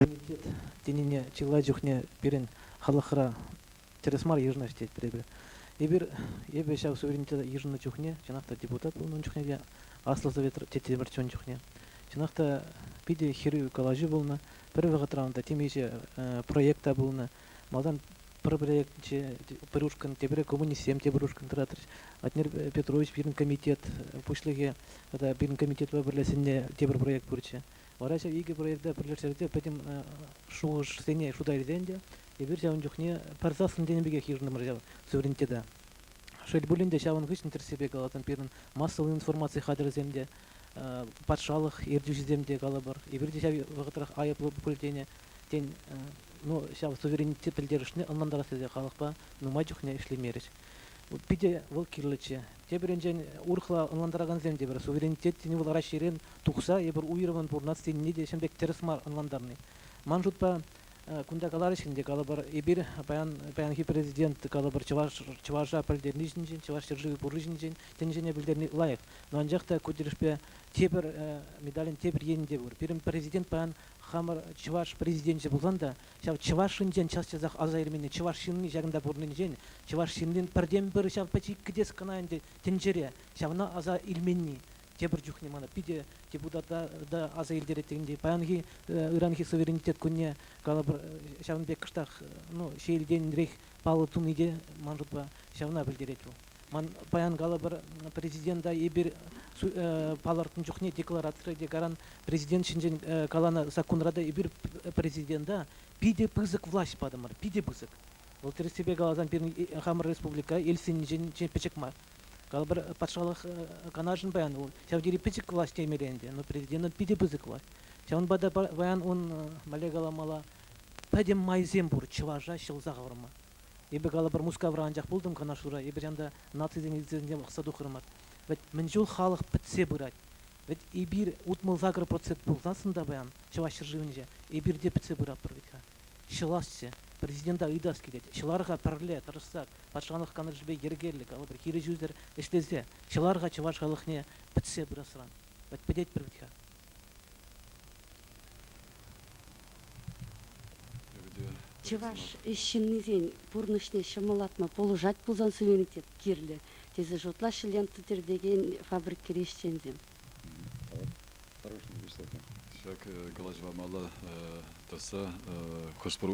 Муниципалитет тенине чылай чухне пирӗн халӑхра тӗрӗс мар йышӑнаҫҫӗ тетпӗр эпир. Эпир эпӗ ҫав суверенитета йышӑннӑ чухне чӑнах та депутат пулнӑ чухне те, Аслӑ Совет тете пӗрччен чухне. Чӑнах та питӗ хӗрӳ калаҫу пулнӑ. Пӗр вӑхӑтра унта темиҫе проект та пулнӑ. Малтан пӗр проекчӗ пӗр ушкӑн, тепре коммунистсем те пӗр ушкӑн тӑратрӗҫ. Владимир Петрович пирӗн комитет пуҫлӑхӗ тата пирӗн комитетпа пӗрле сӗннӗ те пӗр проект пурччӗ. Вара ҫав икӗ проекта пӗрлештерсе пӗтӗм шухӑшсене шута илсе ӗнтӗ эпир ҫавӑн чухне пӗр саслӑн тенӗ пекех йышӑнтӑмӑр ҫав суверенитета. Шел пулин те ҫавӑн хыҫҫӑн тӗрӗссипе каласан пирӗн массӑллӑ информаци хатӗрӗсем те, патшалӑх ертӳҫисем те калӑпӑр, эпир те ҫав вӑхӑтрах айӑплӑ пуль тенӗ тен ну ҫав суверенитет пӗлтерӗшне ӑнлантарас тесе халӑхпа нумай чухне ӗҫлемерӗҫ. Питӗ вӑл кирлӗччӗ. Тепӗринчен, урӑхла ӑнлантаракансем те пӗр суверенитет тени вӑл Раҫҫейрен тухса эпир уйрӑммӑн пурӑнас тенине те ҫын пек тӗрӗс мар ӑнлантарни. Ман шутпа, кунта каларӗҫ ӗнтӗ, калӑпӑр, эпир паян, паянхи президент, калӑпӑр, чӑваш, чӑваша пӗлтерни ҫинчен, чӑваш ҫӗршывӗ пурри ҫинчен тӗнчене пӗлтерни лайӑх. Но анчах та ку тӗлӗшпе тепӗр медалӗн тепӗр енӗ те пур. Пирӗн президент паян хамӑр чӑваш президенчӗ пулсан та ҫав чӑваш ҫынсен час-часах аса илменни чӑваш ҫынни ҫакӑнта пурӑннинчен, чӑваш ҫыннин пӗртен-пӗр ҫав пӗчӗк кӗтес кӑна ӗнтӗ тӗнчере, ҫавна аса илменни тепӗр чухне мана питӗ депутата та аса илтерет тейӗн те паянхи ыранхи суверенитет кунне калӑпӑр ҫавӑн пек кӑштах ну ҫиелтенрех паллӑ туни те ман шутпа ҫавна пӗлтерет вӑл. Ман паян калӑпӑр, президента эпир палӑртнӑ чухне декларацире те каран президент ҫинчен каланӑ саккунра та эпир президента питӗ пысӑк влаҫ патӑмӑр, питӗ пысӑк. Вӑл тӗрӗссипе каласан пирӗн хамӑр республика эльсинчен пӗчӗк мар. Калӑпӑр, патшалӑх канашӗн паян ун ҫав тери пӗчӗк влаҫ темелле ӗнтӗ, но президентӑн питӗ пысӑк влаҫ. Ҫавӑнпа та паян ун, мӗнле каламалла, пӗтӗм майсем пур чӑваша ҫӑлса хӑварма. Эпӗ калӑпӑр Мускавра анчах пултӑм канашлура, эпир янта нацисен лицейсенчен пӑхса тухрӑмӑр. Вӗт мӗн чул халӑх пӗтсе пырать. Вӗт эпир утмӑл-сакӑр процент пулсассӑн та паян Чӑваш ҫӗршывӗнче эпир те пӗтсе пыратпӑр вӗт-ха. Ҫӑласчӗ. Президента ыйтас килет. Ҫӑлар-ха пӗрле, тӑрӑшсах, патшалӑх канашӗпе йӗркеллӗ, калӑпӑр, хирӗҫӳсӗр ӗҫлесе, ҫӑлар-ха чӑваш халӑхне пӗтсе пырасран. Вӗт пӗтетпӗр вӗт-ха. Чӑваш ҫыннисен пурнӑҫне ҫӑмӑллатма пулӑшать пулсан суверенитет кирлӗ, тесе шутлаҫҫӗ лента тӗртекен фабрикӑри ӗҫченсем. Хорошо выступим. Ҫак калаҫӑва мала тӑсса хӑш-пӗр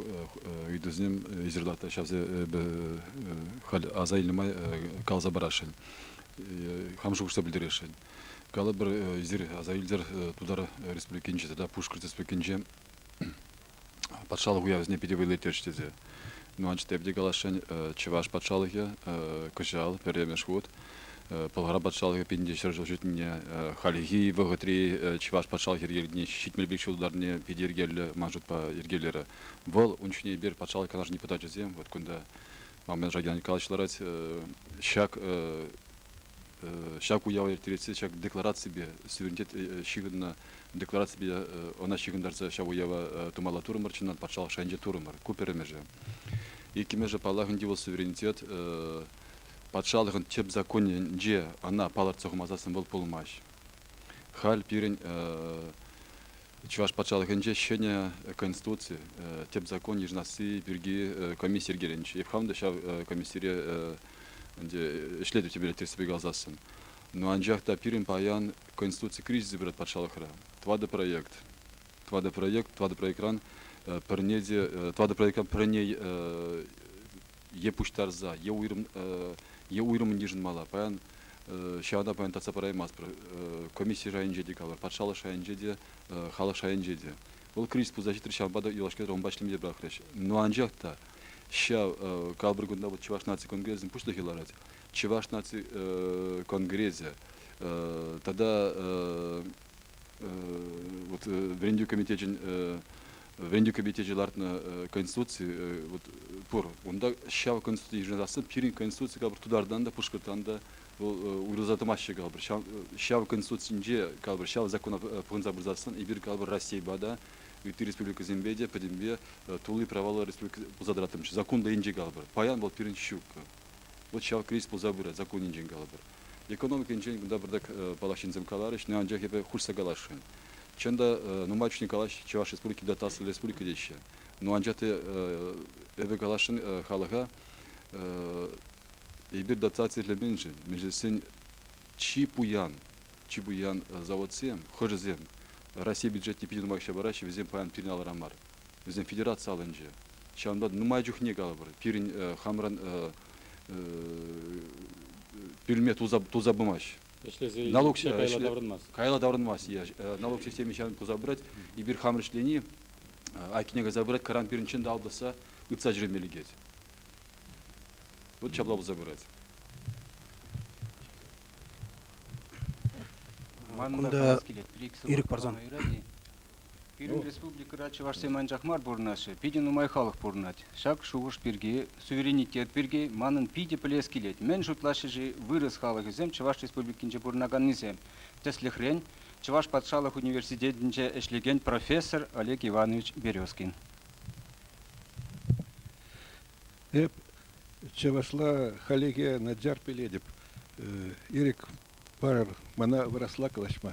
ыйтусем ҫырлахта ҫавсем халь аса илнӗ май каласа парасшӑн. Хам шухӑшса пӗлтересшӗн. Калӑпӑр, эсир аса илтӗр Тутар Республикинче тата Пушкӑрт Республикинче патшалӑх уявӗсене питӗ вӑйлатӗҫ тесе. Ну, анчах те каласшӑн, Чӑваш патшалӑхӗ кӑҫал пӗрремӗш хут Пӑлхар патшалӑхӗ пинте ҫӗр ҫул ҫитнине, хальхи вӑхӑтри Чӑваш патшалӑх йӗркелӗхне ҫитмелли ҫултарне питӗ йӗркеллӗ ман шутпа йӗркелерӗ. Вӑл ун ҫине эпир патшалӑх канашӗн депутачӗсем вот кунта ман мӑнаҫлӑран калаҫ ларать. Ҫак ҫак уява ирттересси ҫак деклараципе суверенитет ҫыхӑннӑ деклараципе ӑна ҫыхӑнтарса ҫав уява тумалла турӑмӑр чӑнах патшалӑх шайӗнче турӑмӑр ку пӗрремӗшӗ иккӗмӗшӗ паллах ӗнтӗ вӑл суверенитет патшалӑхӑн тӗп законӗнче ана палӑртса хумасассӑн вӑл пулмасть халь пирӗн Чӑваш патшалӑхӗнче ҫӗнӗ Конституци, тӗп закон йышӑнасси пирки комисси йӗркеленчӗ. Эп хам та ҫав комиссире ӗнтӗ ӗҫлетӗп тепӗр тӗрӗссипе каласассӑн. Но анчах та пирӗн паян Конституци кризисӗ пырать патшалӑхра. Тӑватӑ проект, тӑватӑ проект, тӑватӑ проектран пӗрне те, тӑватӑ проектран пӗрне е пуҫтарса, е уйрӑм е уйрӑммӑн йышӑнмалла. Паян ҫава та паян татса параймастпӑр. Комисси шайӗнче те калӑр, патшалӑх шайӗнче те, халӑх шайӗнче те. Вӑл кризис пулса ҫитрӗ, ҫавӑнпа та юлашкинче унпа ӗҫлеме те пӑрахрӗҫ. Но анчах та ҫав калӑпӑр кунта вот Чӑваш наци конгресӗн пуҫлӑхӗ ларать. Чӑваш наци конгресӗ тата вот вӗрентӳ комитечӗн вӗрентӳ комитечӗ лартнӑ конституци вот пур унта ҫав конституци йышӑнасси пирӗн конституци калӑпӑр тутартан та пушкӑртан та вӑл уйрӑлса тӑмаҫҫӗ калӑпӑр ҫав ҫав конституцинче калӑпӑр ҫав закона пӑхӑнса пырсассӑн эпир калӑпӑр Раҫҫейпа та ытти республикӑсемпе те пӗтӗмпе тулли праваллӑ республика пулса тӑратӑмччӗ закон енче калӑпӑр паян вӑл пирӗн ҫуккӑ Вӑт ҫав кризис пулса пырать, законӗнчен калӑпӑр. Экономикинчен кунта пӑртак паллах ҫынсем каларӗҫ, анчах эпӗ хушса каласшӑн. Чӑн та, нумай чухне калаҫ Чӑваш Республики та Аслӑ Республика теҫҫӗ. Но анчах та эпӗ каласшӑн халӑха, эпир дотаци ӗҫлеменшӗн мӗншӗн чи пуян, чи пуян заводсем, хӑшӗсем Россия бюджетне питӗ нумай укҫа параҫҫӗ, вӗсем паян пирӗн алӑра мар. вӗсем федераци алӑнче. Ҫавӑнпа нумай чухне калӑпӑр, пирӗн хамран пӳлме тулса, тулса пымасть. Ӗҫлесе налук, кайла таврӑнмасть. Кайла таврӑнмасть. налук системи ҫавӑн туса пырать. Эпир хам ӗҫлени айккине кайса пырать, кӑран пирӗн чӑн та алпӑсса ытса ҫӳреме лекет. Вӑт ҫапла пулса пырать. Кунта ирӗк парсан Пирӗн ну. республикӑра чӑвашсем анчах мар пурӑнаҫҫӗ, питӗ нумай халӑх пурӑнать. Ҫак шухӑш пирки, суверенитет пирки манӑн питӗ пӗлес килет. Мӗн шутлаҫҫӗ-ши вырӑс халӑхӗсем Чӑваш Республикинче пурӑнаканнисем? Тӗслӗхрен, Чӑваш патшалӑх университетӗнче ӗҫлекен профессор Олег Иванович Березкин. Эп чӑвашла халӗхе начар пӗлетӗп. Ирӗк парӑр мана вырасла калаҫма.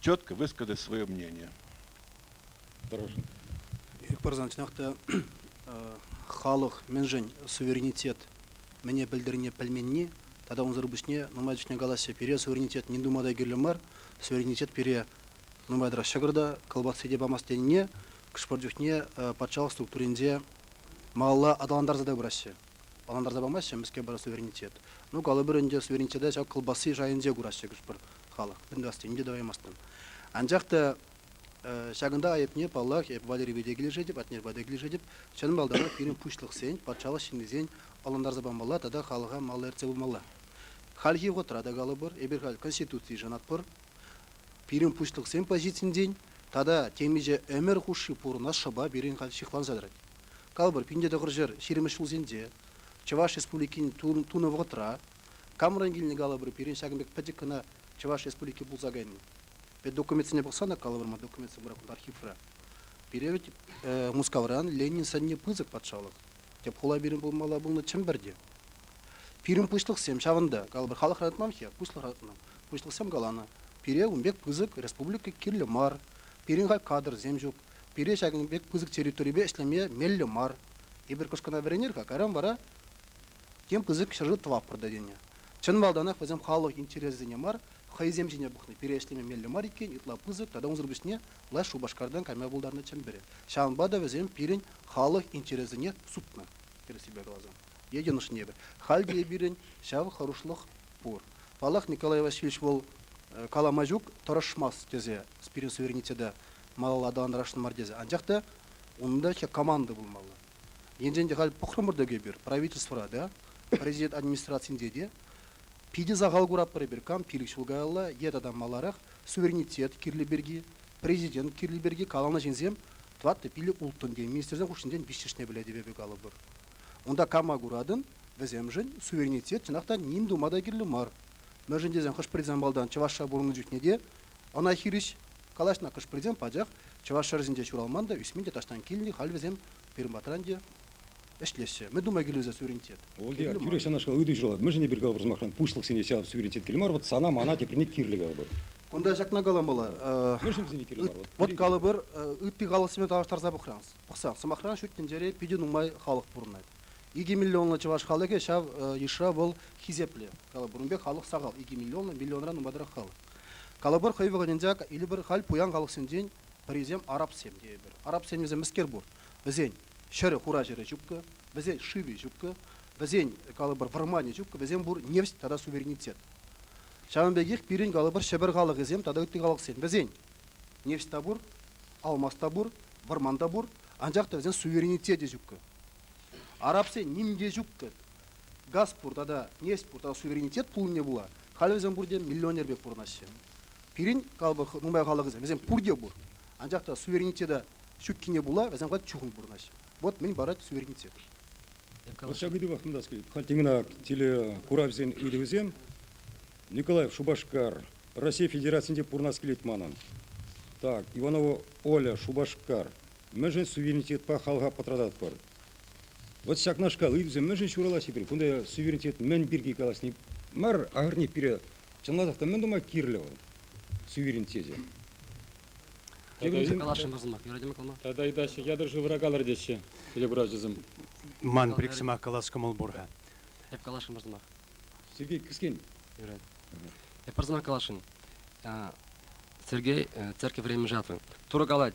четко высказать свое мнение. Хорошо. Ик парсан чӑнах халӑх мӗншӗн суверенитет мӗне пӗлтернине пӗлменни тата унсӑр пуҫне нумай чухне калаҫҫӗ пире суверенитет ним тума та кирлӗ мар суверенитет пире нумай тӑрать ҫӑкӑр та кӑлпасси те памасть тенине хӑш-пӗр чухне патшалӑх структуринче малалла аталантарса та пыраҫҫӗ ӑнлантарса памаҫҫӗ мӗскер пара суверенитет. Ну, калӑпӑр ӗнтӗ, суверенитета ҫак кӑлпасси шайӗнче кураҫҫӗ хӑш-пӗр халӑх. Мӗн тӑвасси, ним те тӑваймастӑн. Анчах та ҫакӑнта айӑпне, паллах, эп Валери пете килӗшетӗп, Атнер пате килӗшетӗп. Чӑн малтанах пирӗн пуҫлӑхсен, патшалӑх ҫыннисен ӑнлантарса памалла тата халӑха малалла ертсе пымалла. Хальхи вӑхӑтра та калӑпӑр, эпир халь Конституцие шанатпӑр. Пирӗн пуҫлӑхсен позицийӗнчен тата темиҫе ӗмӗр хушши пурӑнас шӑпа пирӗн халь ҫыхланса тӑрать. Калӑпӑр, пин те тӑхӑр ҫӗр ҫирӗммӗш ҫулсенче Чӑваш Республикин тунӑ вӑхӑтра камран килнӗ калӑпӑр пирӗн ҫакӑн пек пӗчӗк кӑна Чӑваш Республики пулса кайнӑ. Документсене пӑхсан та калӑпӑр ман документсем пурах архивра. Пире вӗт Мускавран Ленин сӑнне пысӑк патшалӑх, тӗп хула пирӗн пулмалла пулнӑ Чӗмпӗрте. Пирӗн пуҫлӑхсем ҫавӑнта, калӑпӑр халӑхра ратмам-ҫке, пуҫлӑхра ратмам, пуҫлӑхсем каланӑ, пире ун пек пысӑк республика кирлӗ мар, пирӗн халь кадрсем ҫук, Пире ҫакӑн пек пысӑк территорипе ӗҫлеме меллӗ мар. Эпир кӑшкӑна вӗренер-ха, кайран вара тем пысӑк ҫӗршыв тӑваппӑр та тенӗ. Чӑн малтанах вӗсем халӑх интересӗсене мар, хӑйсем ҫине пӑхнӑ. Пире ӗҫлеме меллӗ мар иккен, ытла пысӑк тата унсӑр пуҫне лаш Шупашкартан кайма пултарнӑ Чӗмпӗре. Ҫавӑнпа та вӗсем пирӗн халӑх интересӗсене сутнӑ, тӗрӗссипе каласан. Е йӑнӑшни эпӗ. Халь те пирӗн ҫав хӑрушлӑх пур. Паллах, Николай Васильевич вӑл калама ҫук, тӑрӑшмасть тесе пирӗн суверенитета малалла аталантарасшӑн мар тесе. Анчах та унта ҫак команда пулмалла. Енчен те халь пӑхрӑмӑр-тӑк эпир правительствӑра та, президент администрацийӗнче те питӗ сахал куратпӑр эпир кам пилӗк ҫул каялла е тата маларах суверенитет кирлӗ пирки, президент кирлӗ пирки каланӑ ҫынсем тӑватӑ пилӗк улттӑн те министрсен хушшинчен виҫҫӗшне пӗлет эпӗ калӑпӑр. Унта кама куратӑн, вӗсемшӗн суверенитет чӑнах та ним тума та кирлӗ мар. Мӗншӗн тесен хӑш-пӗр замбалтан чӑвашша пурӑннӑ чухне те Ӑна хирӗҫ калаҫнӑ хӑш-пӗрисем пачах чӑваш ҫӗрӗсенче ҫуралман та, ӳсмен те таҫтан килнӗ, халь вӗсем пирӗн те ӗҫлеҫҫӗ. Мӗн тума килӗшӳ суверенитет? Олдиар, тӳрех ҫавнашкал ыйту ҫуралать. Мӗншӗн эпир калӑпӑр сӑмахран пуҫлӑхсене ҫав суверенитет кирлӗ мар, вӑт сана, мана теприне кирлӗ калӑпӑр? Кунта ҫакна каламалла. Мӗншӗн вӗсене кирлӗ мар? Вӑт калӑпӑр, ытти халӑхсемпе тавлаштарса пӑхсан, сӑмахран, ҫут тӗнчере питӗ нумай халӑх пурӑнать. Икӗ миллионлӑ чӑваш халӑхӗ ҫав йышра вӑл хисеплӗ. Калӑпӑр, ун пек халӑх сахал, икӗ миллионлӑ, миллионран нумайрах халӑх. Калӑпӑр, хӑй вӑхӑтӗнче Илӗпӗр халь пуян халӑхсенчен пӗрисем арабсем тейӗпӗр. Арабсем вӗсем мӗскер пур? Вӗсен ҫӗрӗ, хура ҫӗрӗ ҫуккӑ, вӗсен шывӗ ҫуккӑ, вӗсен, калӑпӑр, вӑрманӗ ҫуккӑ, вӗсем пур нефть тата суверенитет. Ҫавӑн пекех пирӗн, калӑпӑр, Ҫӗпӗр халӑхӗсем тата ытти халӑхсем, вӗсен нефть та пур, алмаз та пур, вӑрман та пур, анчах та вӗсен суверенитечӗ ҫуккӑ. Арабсен ним те ҫуккӑ. газ пур тата нефть пур тата суверенитет пулнине пула халӗ вӗсем пурте миллионер пек пурӑнаҫҫӗ. Пирӗн нумай халӑхӑсем вӗсем пурте пур, анчах та суверенитета ҫуккине пула вӗсем халь чухӑн пурӑнаҫҫӗ. Вот мӗн парать суверенитет. Ҫав ыйтупах вырнаҫкалать. Халь темина телекуравсен ыйтӑвӗсем Николаев Шупашкар Раҫҫей Федерацийӗнче пурӑнас килет манӑн. Так, Иванова Оля Шупашкар. Мӗншӗн суверенитетпа халӑха пӑтрататпӑр? Вот ҫакнашкал ыйтусем мӗншӗн ҫуралаҫҫӗ пирӗн? Кунта суверенитет мӗн пирки калаҫни мар, ахӑрне пире чӑнласах та мӗн тума кирлӗ вӑл суверенитете? Каласшӑн сӑмах, юратӑм калма. Тата ыйтаҫҫӗ, ятӑр шывра калӑр теҫҫӗ телеграфҫӑсем. Ман пӗр сӑмах калас кӑмӑл пур-ха. Эп каласшӑн пӗр сӑмах. Сергей кӗскен. Юрать. Эп пӗр сӑмах каласшӑн. Сергей церкви времени жатвы. Турӑ калать,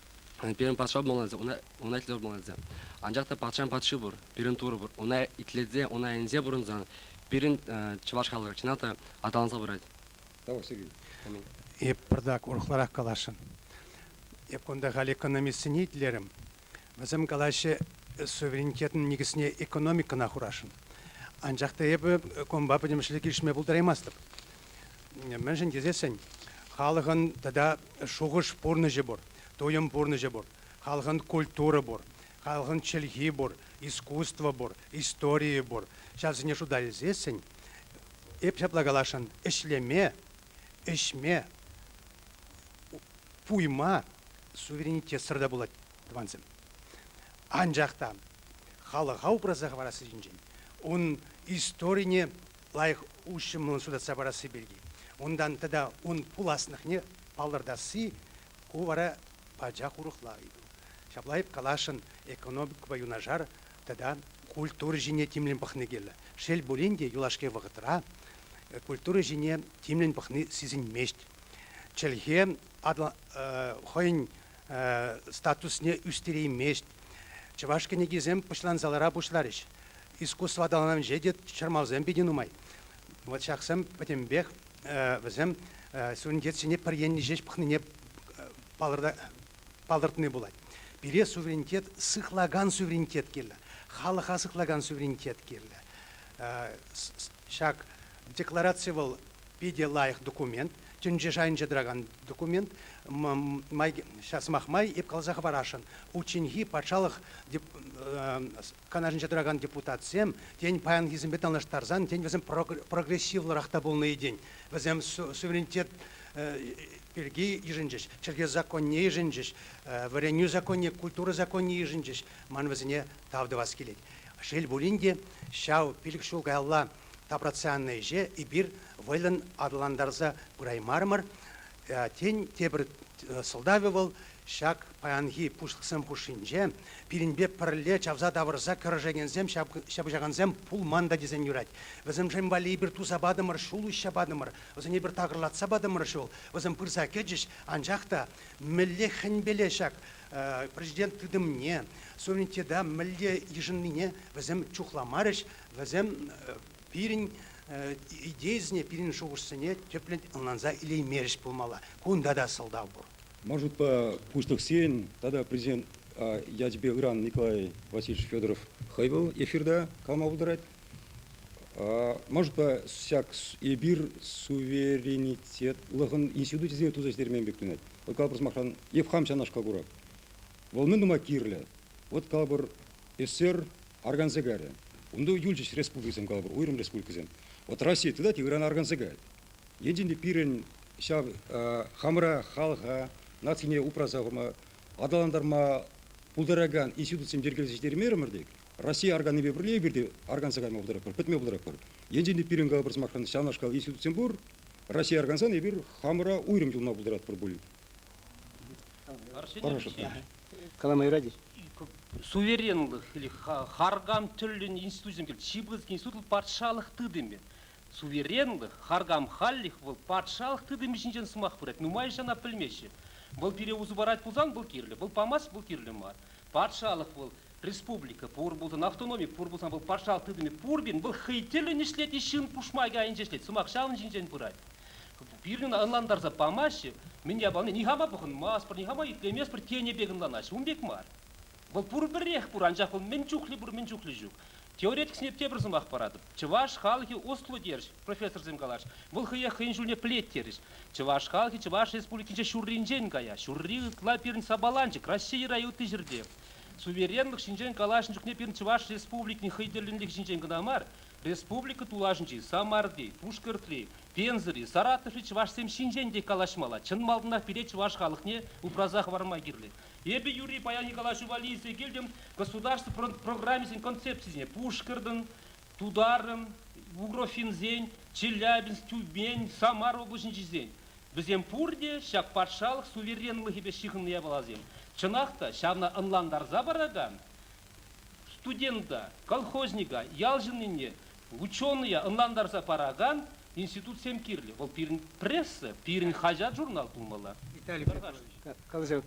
пирӗн патша пулмалла ун ун айтлевӗр пулмалла анчах та патшан патши пур пирӗн турӑ пур una итлесе una ӗнсе пурӑнсан пирӗн чӑваш халӑхӗ чӑнах та аталанса пырать эп пӑртак урӑхларах каласшӑн эп кунта халь экономистсене итлерӗм вӗсем калаҫҫӗ суверенитетӑн никӗсне экономикӑна хурасшӑн анчах та эпӗ кунпа пӗтӗмӗшле килӗшме пултараймастӑп мӗншӗн тесессӗн халӑхӑн тата Шухӑш пурнӑҫӗ пур, туйӑм пурнӑҫӗ пур, халӑхӑн культура пур, халӑхӑн чӗлхи пур, искусство пур, историйӗ пур. Ҫавсене шута илсессӗн эп ҫапла каласшӑн, ӗҫлеме, ӗҫме, пуйма суверенитетсӑр та пулать, тӑвансем. Анчах та халӑха упраса хӑварасси ҫинчен, унӑн историне лайӑх уҫӑмлӑн суйлатса парасси пирки, унтан тата ун пуласлӑхне палӑртасси, ку вара пачах урӑхла ыйту. Ҫапла каласшӑн экономикӑпа юнашар тата культура ҫине тимлӗн пӑхни кирлӗ. Шел пулин те, юлашки вӑхӑтра культура ҫине тимлӗн пӑхни сисӗнмест. Чӗлхе хӑйӗн статусне ӳстереймест. Чӑваш кӗнекисем пӑчлансалара пуҫларӗҫ. Искусство аталанӑвӗнче те чӑрмавсем питӗ нумай. Вот ҫаксем пӗтӗмпех вӗсем суверенитетсене пӗр енне ҫеҫ пӑхнине палӑртни пулать. Пире суверенитет, сыхлакан суверенитет кирлӗ, халӑха сыхлакан суверенитет кирлӗ. Ҫак деклараци вӑл питӗ лайӑх документ, тӗнче шайӗнче тӑракан документ. Ҫав сӑмах май эп каласа хӑварасшӑн, Ученьхи патшалӑх канашӗнче тӑракан депутатсем, тен, паянхисемпе танлаштарсан, тен, вӗсем прогрессивлӑрах та пулнӑ-и, тен, вӗсем суверенитет пирки йышӑнчӗҫ, чӗлхе законне йышӑнчӗҫ, вӗренӳ законне, культура законне йышӑнчӗҫ. Ман вӗсене тав тӑвас килет. Шел пулин те, ҫав пилӗк ҫул каялла тапратса ӗҫе эпир вӑйлӑн аталантарса пыраймарӑмӑр. Тен, тепӗр сӑлтавӗ вӑл, ҫак паянхи пуҫлӑхсем хушшинче пирӗнпе пӗрле чавса тавӑрса кӗрешекенсем, ҫапӑҫакансем пулман та тесен юрать. Вӗсемшӗн валли эпир туса патӑмӑр, ҫул уҫса патӑмӑр, вӗсене эпир такӑрлатса патӑмӑр ҫул, вӗсем пырса кӗчӗҫ, анчах та мӗнле хӗнпеле ҫак Президент тытӑмне, суверенитета мӗнле йышӑннине вӗсем чухламарӗҫ. Вӗсем пирӗн идейӑсене, пирӗн шухӑшсене тӗплӗн ӑнланса илеймерӗҫ пулмалла. Кунта та сӑлтав пур. Ман шутпа, пуҫлӑхсен тата президент ячӗпе ыран Николай Васильевич Федоров хӑй вӑл эфирта калама пултарать. Мӑшта ҫак эпир суверенитетлӑхӑн институчӗсене туса ӗҫтермен пек тунать. Вӑл калӑпӑр сӑмахран, ев хам ҫавнашкал курак. Вӑл мӗн тума кирлӗ? Вот калӑпӑр, СССР аргансегарӗ. Унта юлчӗҫ республикӑсем калӑпӑр, уйрӑм республикӑсем. Вот Россия тытать, Иран аргансегает. Енчен те пирӗн ҫав хамӑра, халӑха, нацине упраса хурма, аталантарма пултаракан институтсем йӗркелесе ӗҫтереймерӗмӗр тек, Россия арганипе пӗрле эпир те арганса кайма пултаратпӑр, пӗтме пултаратпӑр. Енчен те пирӗн калӑпӑр сӑмахран ҫавнашкал институтсем пур, Россия аркансан эпир хамӑра уйрӑм юлма пултаратпӑр пуль. Хорошо. Каламайради. Суверенлӑх или харкам тӗллӗн институтсем килет. Чипрский институт вӑл патшалӑх тытӑмӗ. Суверенлӑх, харкам халлӗх вӑл патшалӑх тытӑмӗ ҫинчен сӑмах пырать. Нумай ҫын ӑна пӗлмеҫҫӗ. Вӑл пире усӑ парать пулсан вӑл кирлӗ, вӑл памасть вӑл кирлӗ мар. Патшалӑх вӑл республика пур пулсан, автономи пур пулсан, вӑл патшалӑх тытӑмӗ пурпин, вӑл хӑй тӗллӗн ӗҫлет е ҫын пушмакӗ айӗнче ӗҫлет, сӑмах ҫавӑн ҫинчен пырать. Пирӗн ӑна ӑнлантарса памаҫҫӗ, мӗн япалине нихама пӑхӑнмастпӑр, нихама итлеместпӗр, тенӗ пек ӑнланаҫҫӗ. Ун пек мар. Вӑл пурпӗрех пур, анчах вӑл мӗн чухлӗ пур, мӗн чухлӗ ҫук. Теоретиксене тепӗр сӑмах паратӑп. Чӑваш халӑхӗ ӑслу терӗҫ, профессорсем калаҫ, вӑл хӑех хӑйӗн ҫулне пӗлет терӗҫ. Чӑваш халӑхӗ Чӑваш Республикинче ҫурринчен кая, ҫурри ытла пирӗн сапаланчӑк, Раҫҫей ӑра ытти ҫӗрте. Суверенлӑх ҫинчен калаҫнӑ чухне пирӗн Чӑваш Республикин хӑй тӗллӗнлӗхӗ ҫинчен кӑна мар, республика тулашӗнчи, Самарти, Пушкӑртри, Пензӑри, Саратоври чӑвашсем ҫинчен те калаҫмалла. Чӑн малтанах пире чӑваш халӑхне упраса хӑварма кирлӗ. Эпӗ юри паяни калаҫу валли илсе килтӗм государство программисен концепцисене, Пушкӑртӑн, тутарӑн, бугрофинсен, челябинск-тюбень, самар облаҫӗнчисен, вӗсем пурте ҫак патшалӑх суверенлӑхӗпе ҫыхӑннӑ япаласем. Чӑнах та, ҫавна ӑнлантарса паракан студента, колхозника, ял ҫыннине, ученӑя ӑнлантарса паракан институтсем кирлӗ. Вӑл пирӗн пресса, пирӗн хаҫат-журнал пулмалла. Виталий Петрович, калаҫу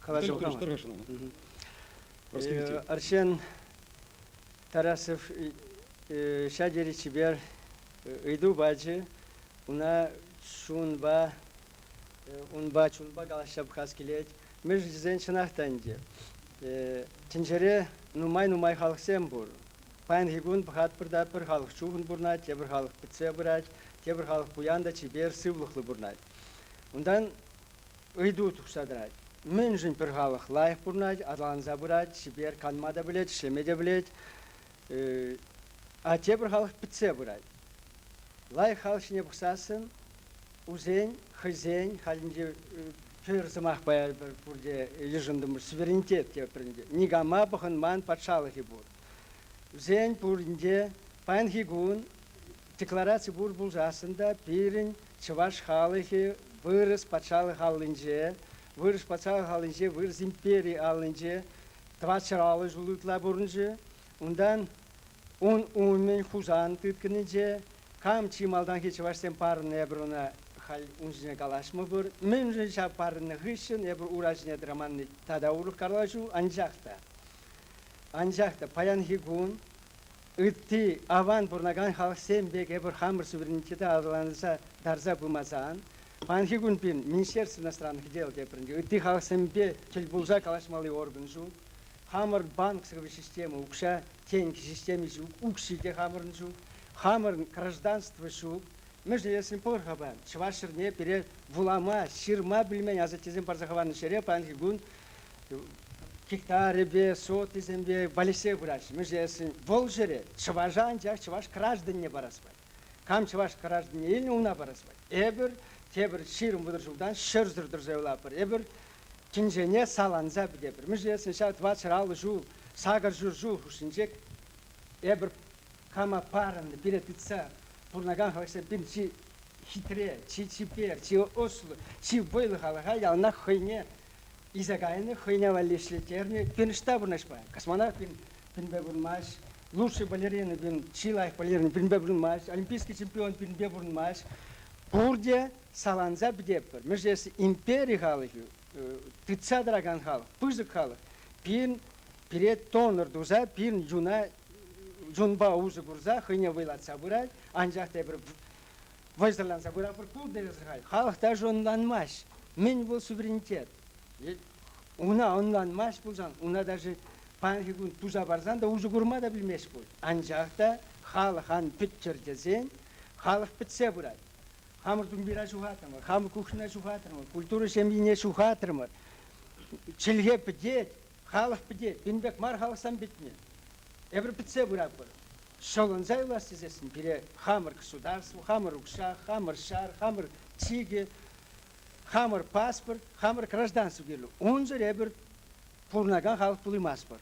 калаҫу Артем Тарасов ҫав тери чипер ыйту пачӗ. Ӑна чунпа, унпа чунпа калаҫса пӑхас килет. Мӗшӗнчисен чӑнах та ӗнтӗ тӗнчере нумай-нумай халӑхсем пур. Паянхи кун пӑхатпӑр та пӗр халӑх чухӑн пурӑнать, тепӗр халӑх пӗтсе пырать, тепӗр халӑх пуян та чипер, сывлӑхлӑ пурӑнать. Унтан Ыйту тухса тӑрать. Мӗншӗн пӗр халӑх лайӑх пурӑнать, аталанса пырать, чипер, канма та пӗлет, ӗҫлеме те пӗлет, а тепӗр халӑх пӗтсе пырать. Лайӑх халӑх ҫине пӑхсассӑн усен, хӑйсен халӗнче тӳр сӑмах паяр пурте йышӑнтӑмӑр суверенитет тепринче. Никама пӑхӑнман патшалӑхӗ пур. Вӗсен пуринче паянхи кун деклараци пур пулсассӑн та пирӗн Чӑваш халӑхӗ вырӑс патшалӑх аллинче, вырӑс патшалӑх аллинче, вырӑс импери аллинче тӑватҫӑраллӑ ҫул ытла пурӑнчӗ. Унтан ун умӗн Хусан тыткӑнӗнче кам чи малтанхи чӑвашсем парӑннӑ эпӗр ӑна халь ун ҫине калаҫмӑпӑр. Мӗншӗн ҫав парӑннӑ хыҫҫӑн эпӗр ура ҫине тӑраманни тата урӑх калаҫу, анчах та, анчах та паянхи кун Ытти аван пурӑнакан халӑхсем пек эпир хамӑр суверенитета аталанса тарса пымасан, паянхи кун пин министерство иностранных дел тепринче ытти халӑхсемпе тӗл пулса калаҫмалли орган ҫук. Хамӑр банк сыхлав системи укҫа тенкӗ системи ҫук, укҫи те хамӑрӑн ҫук. Хамӑрӑн гражданство ҫук. Мӗншӗн тесен пӑлхава, чӑваш ҫӗрне пире вулама, ҫырма пӗлмен асаттесем парса хӑварнӑ ҫӗре паянхи кун гектарӗпе сотисемпе валеҫсе пыраҫҫӗ. Мӗншесен вӑл ҫӗре чӑваша анчах чӑваш гражданне парас пать. Кам чӑваш гражданне илнӗ, унна парас пать. Эпир тепӗр ҫирӗм вӑтӑр ҫултан ҫӗрсӗр тӑрса юлатпӑр. Эпир тӗнчене саланса пӗтетпӗр. Мӗншесен ҫав двадцать алтӑ ҫул сакӑр ҫур ҫул хушшинче эпир кама парӑннӑ, пире тытса пурӑнакан халӑхсем пин чи хитре, чи чипер, чи ӑслӑ, чи вӑйлӑ халӑха яланах хӑйне илсе кайнӑ, хӑйне валли ӗҫлеттернӗ. Финишта пурнӑҫпа космонавт пинпе пурӑнмасть, лучший балерина пин, чи лайӑх балерина пинпе пурӑнмасть, олимпийский чемпион пинпе пурӑнмасть. Пурте саланса пӗтетпӗр. Мӗншӗн тесен импери халӑхӗ, тытса тӑракан халӑх, пысӑк халӑх, пин пире тоннер туса, пин юна юнпа усӑ курса хӑйне вӑйлатса пырать, анчах тепӗр вӑйсӑрланса пыратпӑр пуль тесе халь халӑх та ӑнланмасть. Мӗн вӑл суверенитет? Una ӑнланмасть пулсан, una даже паянхи кун туса парсан та усӑ курма та пӗлмест пуль. Анчах та халӑх ан пӗттӗр тесен халӑх пӗтсе пырать. Хамӑр тумбира ҫухатрӑмӑр, хамӑр кухньӑна ҫухатрӑмӑр, культура ҫемйине ҫухатрӑмӑр. Чӗлхе пӗтет, Халӑх пити пин пек мар халӑхсем питне. Эпир пӗтсе пыратпӑр. Ҫӑлӑнса юлас тесессӗн пире хамӑр государство, хамӑр укҫа, хамӑр ҫар, хамӑр чикӗ, хамӑр паспорт, хамӑр гражданство кирлӗ. Унсӑр эпир пурӑнакан халӑх пулаймастпӑр.